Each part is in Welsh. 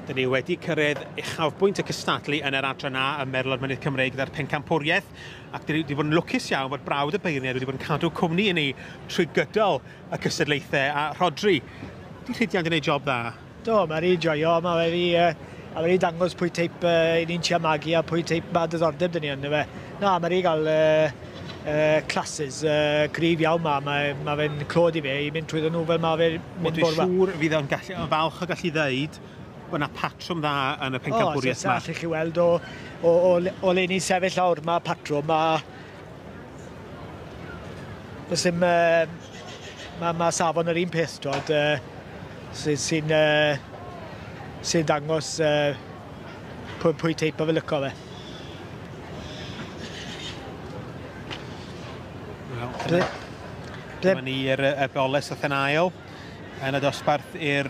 Dyn ni wedi cyrraedd uchafbwynt y cystadlu yn yr adran A ym Merlod Mynydd Cymreig gyda'r pencampwriaeth ac dyn ni wedi bod yn lwcus iawn fod brawd y beirniaid wedi bod yn cadw cwmni i ni trwy gydol y cystadlaethau a Rhodri, di rhidiant yn ei job dda? Do, mae rhi joio, mae fe rhi, uh, a wedi dangos pwy teip uh, i ni'n tia magu a pwy teip mae dyddordeb dyn ni yn fe. Na, mae rhi gael uh, uh, classes uh, cryf iawn ma, mae, mae fe'n clod i fe i mynd trwy nhw fel mae fe mynd borfa. Dwi'n siŵr fydd o'n gallu, o falch o gallu ddeud bod yna patrwm dda yn y pencampwriaeth yma. O, so, allwch chi weld o, o, o, o le ni'n sefyll awr, mae patrwm, mae Does dim... Uh, mae ma safon yr un peth, dod, uh, sy'n sy uh, sy dangos uh, pwy, pwy teip o fe lyco fe. Dyma ni i'r y boles a thenau yn y dosbarth i'r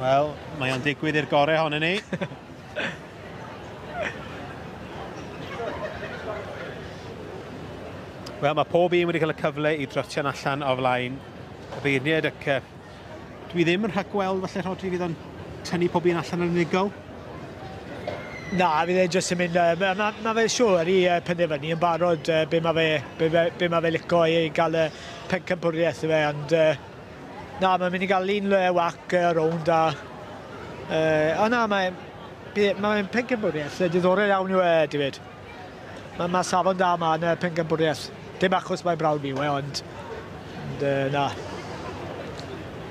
Wel, mae o'n digwydd i'r gore honno ni. Wel, mae pob un wedi cael y cyfle i drotio'n allan o flaen y beirniaid ac uh, dwi ddim yn rhagweld falle Rhodri fydd o'n tynnu pob un allan yn unigol. Na, fydd e'n jyst yn mynd... Uh, mae ma, ma fe siwr i uh, penderfynu yn barod uh, be mae fe, be, be ma fe lico i gael y, pencampwriaeth yw e ond yy na mae'n mynd i gael un le wac y rownd a yy o na mae mae'n pencampwriaeth yy diddorol iawn yw e David. Mae ma safon da yma yn y pencampwriaeth. Dim achos mae brawd fi yw e ond, ond yy na.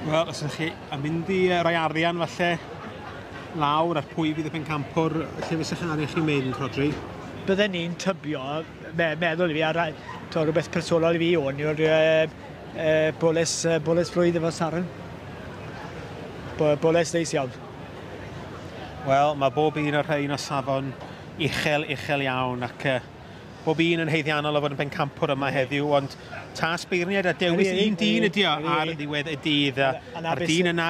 Wel, os ydych chi yn mynd i roi arian falle lawr ar pwy fydd y pencampwr lle fysych chi'n arian chi'n mynd, Rodri? Bydden ni'n tybio me meddwl i fi, a to, rhywbeth personol i fi o'n yw'r uh, uh, boles, uh, boles flwydd efo Saren. Bo boles ddeis iawn. Wel, mae bob un o'r rhain o safon uchel, uchel iawn, ac uh, bob un yn heiddiannol o fod yn bencampwr yma heddiw, ond tas beirniaid a dewis un dyn ydi o ar ddiwedd y dydd, a'r dyn yna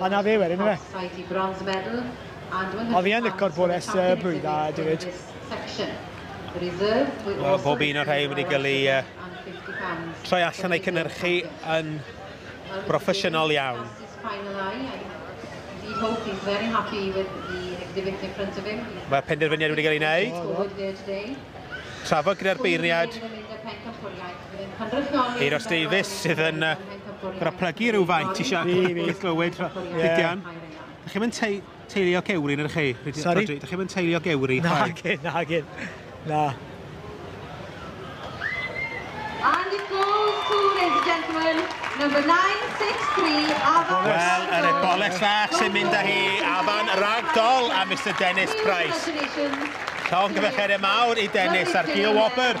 A 'na fe wedyn yfe? Ond fi yn licor bores y blwydd dda David. Wel, bob un o'r rhai wedi gael ei uh, troi allan ei cynnyrchu yn broffesiynol iawn. Mae penderfyniad wedi cael ei wneud. Trafod gyda'r beirniad Euros Davies sydd yn uh, graplygu rhywfaint i Siarc Liverpool i glywed Rhydian. Dych chi'n mynd teulu o gewri yn yr chi? Sorry? Dych chi'n mynd teulu o gewri? Na, gyn, na, gyn. Na. And it goes to, ladies and gentlemen, number 963, Afan Wel, yr eboleg sach sy'n mynd â hi, Afan Ragdoll a Mr Dennis Price. Llong gyfecheiriau mawr i Dennis ar Gil Wobr.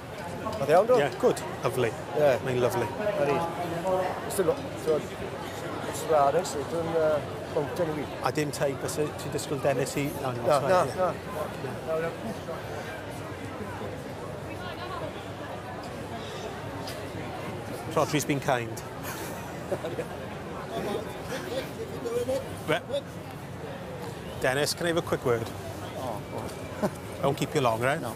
Oedd iawn, do? Ie, yeah, good. Lovely. Ie. Yeah. Mae'n lovely. Ydy. Ystod, ti'n ystod ar ys, dwi'n bwnc yn fi. A dim tai, bys ti dysgwyl Dennis i... Na, na, na. Na, na. Rhodri's been kind. Dennis, can I have a quick word? Oh, oh. I won't keep you long, right? No.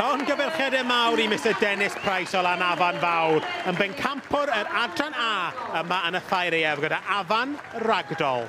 Llongyfarchiadau mawr i Mister Dennis Price o Lanafan Fawr yn bencampwr yr Adran A yma yn y Thair Aeaf gyda Afan Ragdoll.